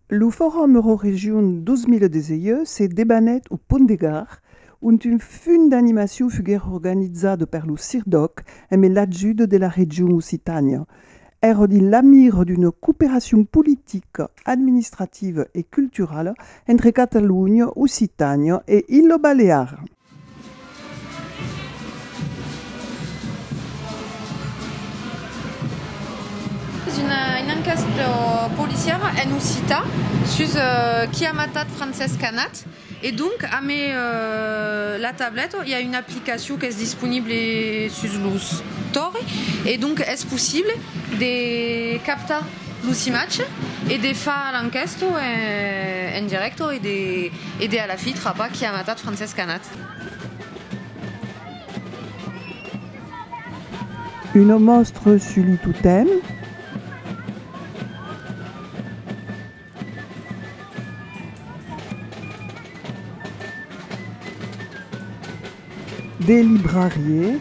Lo Forum Euroregion 2018 se debanèt au Pont de Gard, ont un funt d'animacion fuguèt organizat per lo CIRDOC emb l'ajut de la region Occitània. Èra dins la mira d'una cooperacion politica, administrativa e culturala entre Catalonha, Occitània e Ilha Balear. Una encasta policiara en occita sus qui a matat Francesc Canat e donc amé la tableta i a una aplicacion qu'es disponible sus lo store e donc es possible de captar Lo cimatge e de far a l'enquèsto en dirècto e de a la fi trapar qui a matat Francesc Canat. Una mòstra sus lo totèm. De librarier.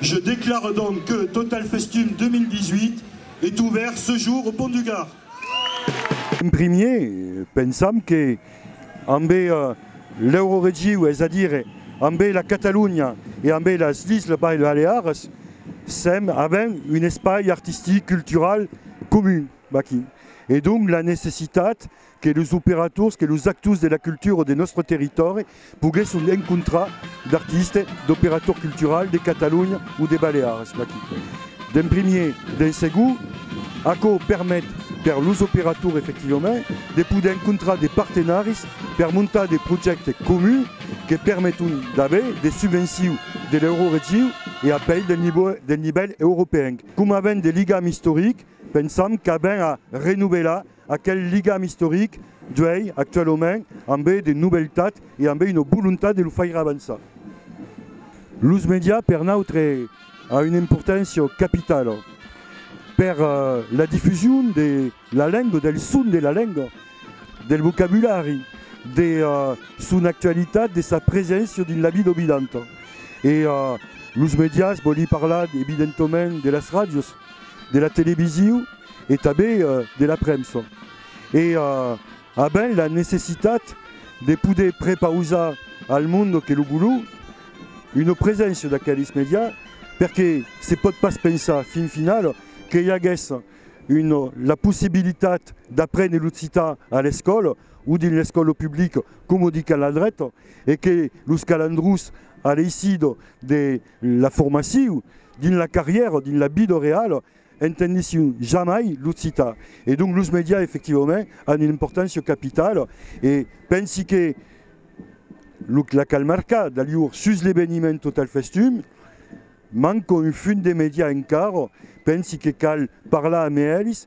Je declare donc que Total Festum 2018 est ouvert ce jour au Pont du Gard. En primier, pensam que ambe l'Euroregiu, es a dire ambe la Catalonha e ambe las Isles Baleares, sèm avent un espai artistic, cultural comun aquí. E donc la necessitat que los operators, que los actors de la cultura de nòstre territòri poguèsson encontrar d'artistes, d'operators culturals de Catalonha o de Baleares aquí. D'en primièr, d'en segon, aquò permet per los operators efectivament de poder encontrar de partenaris per montar de projèctes comuns que permeton d'aver de subvencions de l'Euroregion e apèi del nivèl europeenc. Coma avèm de ligam istoric, pensam qu'avèm a renovelar Aquel ligam istoric d'uèi, actualament, ambé de nobeltat e ambé una volontat de lo faire avançar. Los medias per nautre a una importància capitala per la difusion de la lenga, del son de la lenga, del vocabulari, de son actualitat, de sa preséncia dins la vida vidanta. E los medias vòli parlar evidentament de las ràdios. de la televisiu e tanben de la premsa. E avèm la necessitat de poder prepausar al monde que lo vòlu una preséncia d'aqueles medià perque se pòt pas pensar fin final que i aguèsse la possibilitat d'aprene l'occitan a l'escòla o dins l'escòla publica coma dicam la dreta e que los calandrons a l'eisit de La formaciu dins la carrièra, dins la vida reala, entendissiu jamai l'occitan e donc los medias efectivament an una importància capitala e pensi que lo la cal marcar d'alhur sus l'eveniment Total Festum manca un funt de medias encara, pensi que cal parlar amé elis,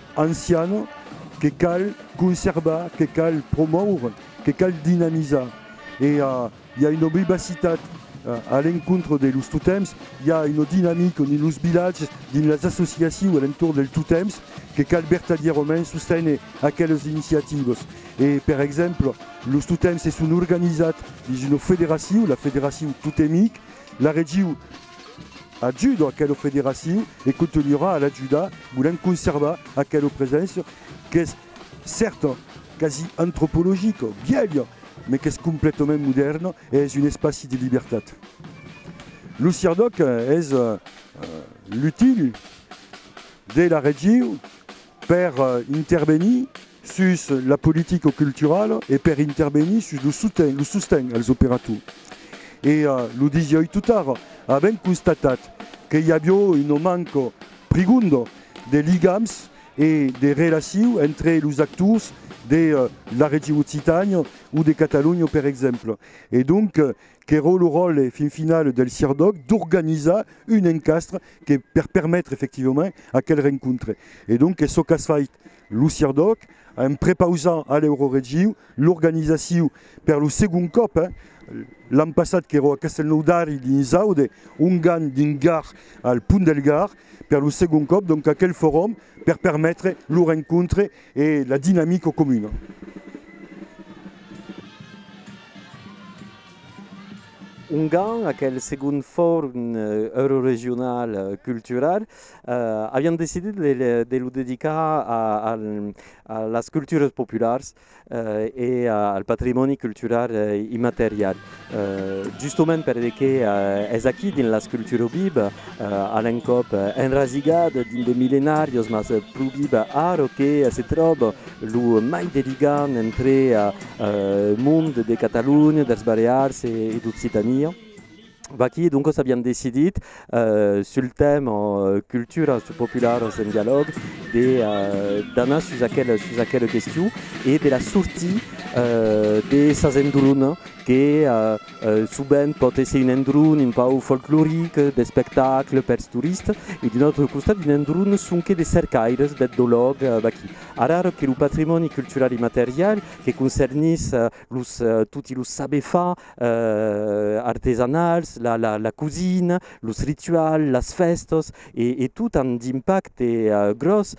anciana que cal conservar, que cal promoure, que cal dinamizar. E i a una vivacitat a l'encontre de los totems, i a una dinamica dins los vilatges, dins las associacius a l'entorn dels totems que cal vertadièrament sosténer aquelas iniciativas. E per exemple, los totems se son organizats dins una federaciu, la federaciu totemic, la regiu, Ajudo aquela federacion e contunharà a l'ajudar volent conservar aquela preséncia qu'es cèrta, quasi antropologica, vièlha, mai qu'es completament modèrna e es un espaci de libertat. Lo CIRDOC es l'util de la region per intervenir sus la politica culturala e per intervenir sus lo soten, lo sosten als operators. E lo disioi totara, avèm constatat que i avió una manca prigonda de ligams e de relaciu entre los actors de la region Occitània o de Catalonha per exemple. E donc qu'èra lo ròtle fin final del CIRDOC d'organizar un encastre que per permetre efectivament aquel rencontre. E donc es çò qu'as fait Lo CIRDOC a en prepausar a l'Euroregiu l'organizaciu per lo segond còp, l'an passat qu'èro a Castelnòu d'Ari dins Aude, Ongan dins Gard al Pont del Gard, per lo segond còp donc aquel forum per permetre lo rencontre e la dinamica comuna. Ongan, aquel segond forum euroregional cultural. Avián decidit de lo dedicar a las culturas populars e al patrimòni cultural immaterial, justament perque es aquí dins las culturas viva, a l'encòp enrasigat dins de millenàrios, mas pro viva ara que se tròba lo mai de ligam entre mond de Catalonha, dels Balears e d'Occitània. Vaquí, doncas avián decidit, sul tèma culturas popularas en dialòg, d'anar sus aquela question e de la sortir de sas endronas que sovent pòt èsser un endron un pauc folcloric, d'espectacle pels toristas, e d'un autre costat un endron sonque de cercaires, d'etnològs, vaquí. Ara, ara que lo patrimòni cultural immaterial, que concernís los, toti los saber far artesanals, la, la, la cosina, los rituals, las fèstas e, e tot an d'impacte gròs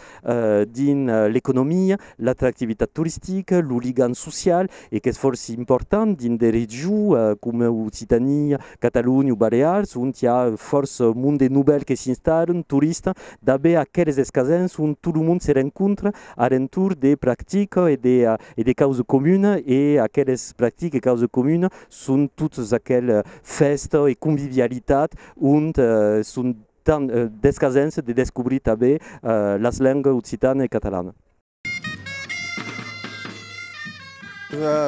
dins l'economia, l'atractivitat toristica, lo ligam social e qu'es fòrça important dins de regions coma Occitània, Catalonha o Balears ont i a fòrça monde novèl que s'installan, toristas, d'aver aqueles escasèns ont tot lo monde se rencontra a l'entorn de practicas e de, e de causa comuna e aqueles practiques de causa comuna son totes aqueles fèsta e convivialitat ont son tant d'escasens de descobrir tanben las lengas occitana e catalana.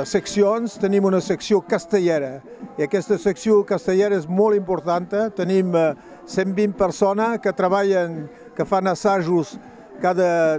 Seccions, tenim una seccion castelhèra e aquesta seccion castelhèra es molt importanta, tenim 120 personas que trabalhan, que fan assajos cada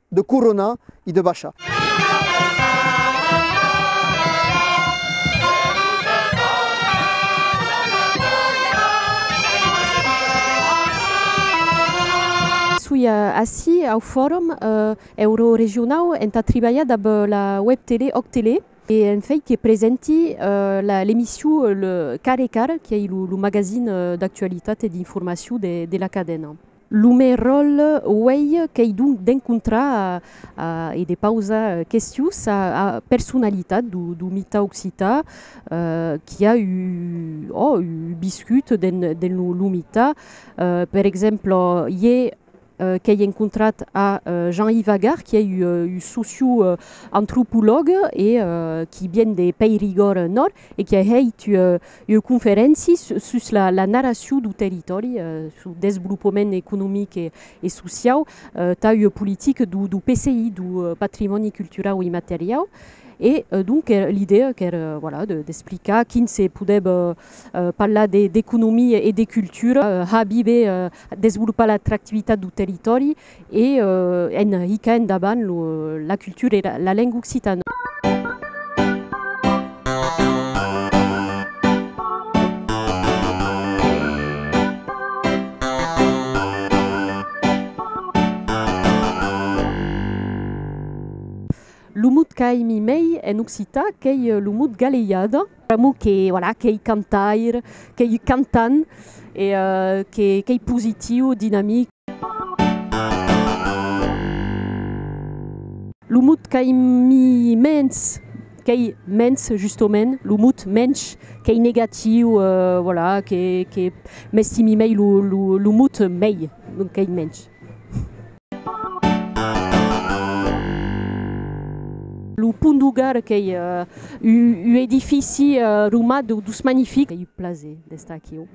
De coronar e de baishar. Soi ací au Forum Euroregionau entà tribalhar dab la web tele Òc Tele e en fai que presenti l'emission Car e Car, qu'ei lo magazin d'actualitat e d'informacion de la cadena. Lo me ròl uèi qu'ei donc d'encontrar e de pausar questions a la personalitat do mitar occitan qui a o ò viscut dens lo mitar. Per exemple, iè qu'ei encontrat a Jean-Yves Agar, qui ei un socioantropològ e qui vien de Pèrigòrd Nòrd, e qu'i a hèit ua conferéncia sus la narracion dau territòri, sou desvolopament economic e sociau, tà ua politica dau PCI, dau patrimòni culturau immateriau, e donc l'idèa qu'èra voilà d'explicar quin se podèva parlar d'economia e de cultura, habir bè, desvolopar l'atractivitat dau territòri, E en hica endavant la cultura èra la lenga occitana. Lo mot qu'aimi mei en occità qu'ei lo mot galeiada. Pr'amor que voilà qu'ei cantaire, qu'ei cantant e qu'ei positiu, dinamic. Lo mot qu'ai mens, qu'ei mens justomènt, lo mot mensh qu'ei negatiu, voilà, que que m'estimi mei lo lo lo mot mei, donc qu'ei mensh. Lo pont du Gard qu'ei u u edifici romat dous magnific, qu'ei u plaser d'estar aquiu.